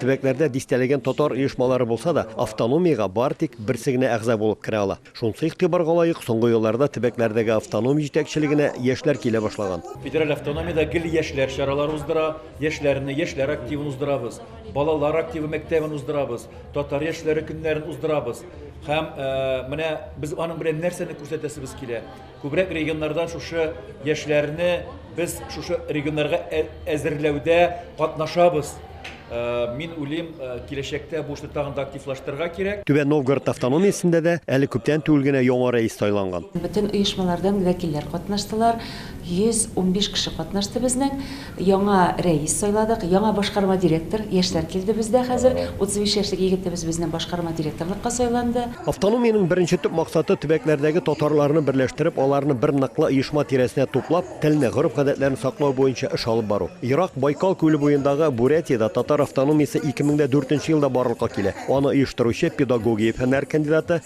Төбәкләрдә дистәләгән татар оешмалары булса да, автономиягә бары тик берсе генә әгъза булып керә ала. Шунысы игътибарга лаек, соңгы елларда төбәкләрдәге автоном җитәкчелегенә яшьләр килә башлаган. Федераль автономиядә гел яшьләр чаралары уздыра, яшьләрне, яшьләр активын уздырабыз, балалар активы мәктәбен уздырабыз, татар яшьләре көннәрен уздырабыз. Һәм менә без аның белән нәрсәне күрсәтәсебез килә? Күбрәк регионнарда шушы яшьләрне без шушы регионнарга ә- әзерләүдә катнашабыз. Э, Мин уйлыйм, э, киләчәктә бу эшне тагын да активлаштырырга кирәк. Түбән Новгород автономиясендә дә әле күптән түгел генә яңа рәис сайланган. Бөтен оешмалардан вәкилләр катнаштылар. 115 кеше катнашты безнең. Яңа рәис сайладык, яңа башкарма директор, яшьләр килде бездә хәзер. 35 яшьлек егетебез безне башкарма директорлыкка сайланды. Автономиянең беренче төп максаты, төбәкләрдәге татарларны берләштереп, аларны бер ныклы оешма тирәсенә туплап, телне, гореф-гадәтләрне саклау буенча эш алып бару. Ерак Байкал күле буендагы Бурятиядә татар автономиясе 2004 нче елда барлыкка килә. Аны оештыручы, педагогия фәннәре кандидаты,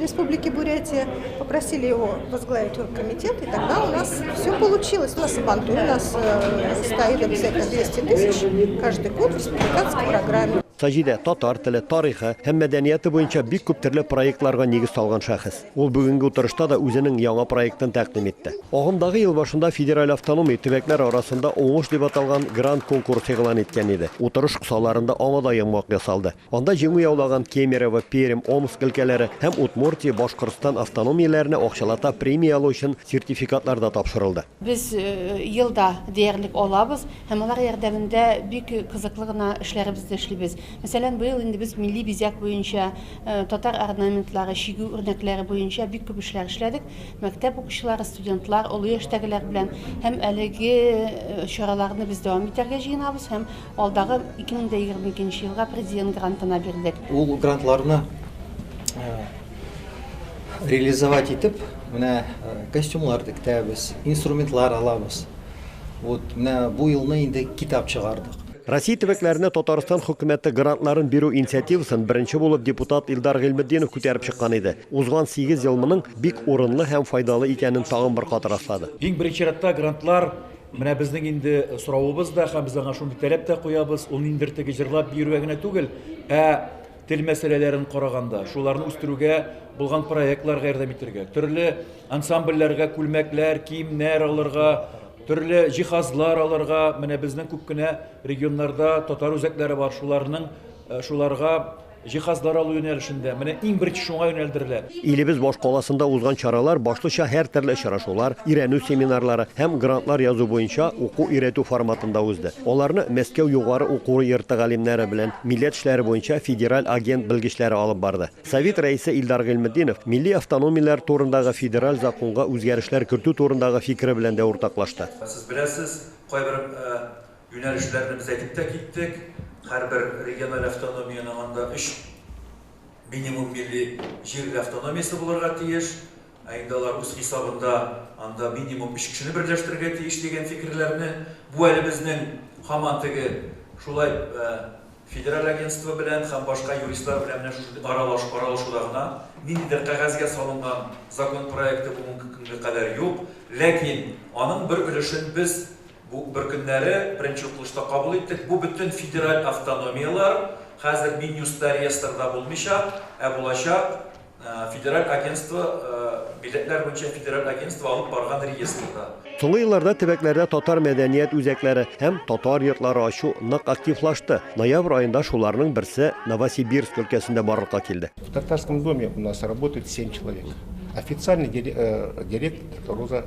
Республики Бурятия, попросили его возглавить комитет, и тогда у нас все получилось. У нас Сабантуй, у нас э, стоит обязательно 200 тысяч каждый год в республиканской программе. Саҗидә татар теле, тарихы һәм мәдәнияты буенча бик күп төрле проектларга нигез салган шәхес. Ул бүгенге утырышта да үзенең яңа проектын тәкъдим итте. Агымдагы ел башында федераль автономия төбәкләр арасында уңыш дип аталган грант конкурс игълан иткән иде. Утырыш кысаларында аңа да яңгак ясалды. Анда җиңү яулаган Кемерово, Пермь, Омск өлкәләре һәм Удмуртия, Башкортстан автономияләренә акчалата премия алу өчен сертификатлар да тапшырылды. Без елда диярлек алабыз һәм алар ярдәмендә бик кызыклы гына эшләребезне эшлибез. Мәсәлән, быел инде без милли бизәк буенча, татар орнаментлары чигү үрнәкләре буенча бик күп эшләр эшләдек. Мәктәп укучылары, студентлар, олы яшьтәгеләр белән һәм әлеге чараларны без дәвам итәргә җыенабыз һәм Алдагы 2022 нче елга президент грантына бирдек. Ул грантларны реализовать итеп, менә костюмлар тектәбез, инструментлар алабыз. Вот менә бу елны инде китап чыгардык. Россия төбәкләренә Татарстан хөкүмәте грантларын бирү инициативасын беренче булып депутат Илдар Гыйльметдинов күтәреп чыккан иде. Узган сигез ел моның бик урынлы һәм файдалы икәнен тагын бер кат раслады. Иң беренче чиратта грантлар Менә безнең инде соравыбыз да, һәм без аңа шундый таләп тә куябыз, ул ниндидер теге җырлап биюгә генә түгел, ә тел мәсьәләләрен караганда, шуларны үстерүгә булган проектларга ярдәм итергә, төрле ансамбльләргә күлмәкләр, киемнәр алырга, төрле җиһазлар алырга, менә безнең күп кенә регионнарда татар үзәкләре бар, шуларның, шуларга Җиһазлар алу юнәлешендә менә иң беренче шуңа юнәлдерелә. Илебез башкаласында узган чаралар башлыча һәртөрле очрашулар, өйрәнү семинарлары һәм грантлар язу буенча уку-өйрәтү форматында узды. Аларны Мәскәү югары уку йорты галимнәре белән милләт эшләре буенча федераль агент белгечләре алып барды. Совет рәисе Илдар Гыйльметдинов милли автономияләр турындагы федераль законга үзгәрешләр кертү турындагы фикере белән дә уртаклашты. Сез беләсез, кайбер Юнәлешләрне без әйтеп тә киттек. Һәрбер региональ автономиянең анда өч минимум милли җирле автономиясе булырга тиеш. Ә инде алар үз хисабында анда минимум өч кешене берләштерергә тиеш дигән фикерләрне, бу әле безнең һаман теге шулай федераль агентство белән һәм башка юристлар белән менә шушындый аралаш аралашуда гына, ниндидер кәгазьгә салынган закон проекты бүгенге көнгә кадәр юк. Ләкин аның бер өлешен без, Бу бер көннәре беренче укылышта кабул иттек. Бу бөтен федераль автономияләр, хәзер Минюстта реестрда булмыйча, ә булачак Федераль агентство, милләтләр буенча федераль агентство алып барган реестрда. Соңгы елларда төбәкләрдә татар мәдәният үзәкләре һәм татар йортлары ачу нык активлашты. Ноябрь аенда шуларның берсе Новосибирск өлкәсендә барлыкка килде. В Татарском доме у нас работает семь человек. Официальный директор Роза.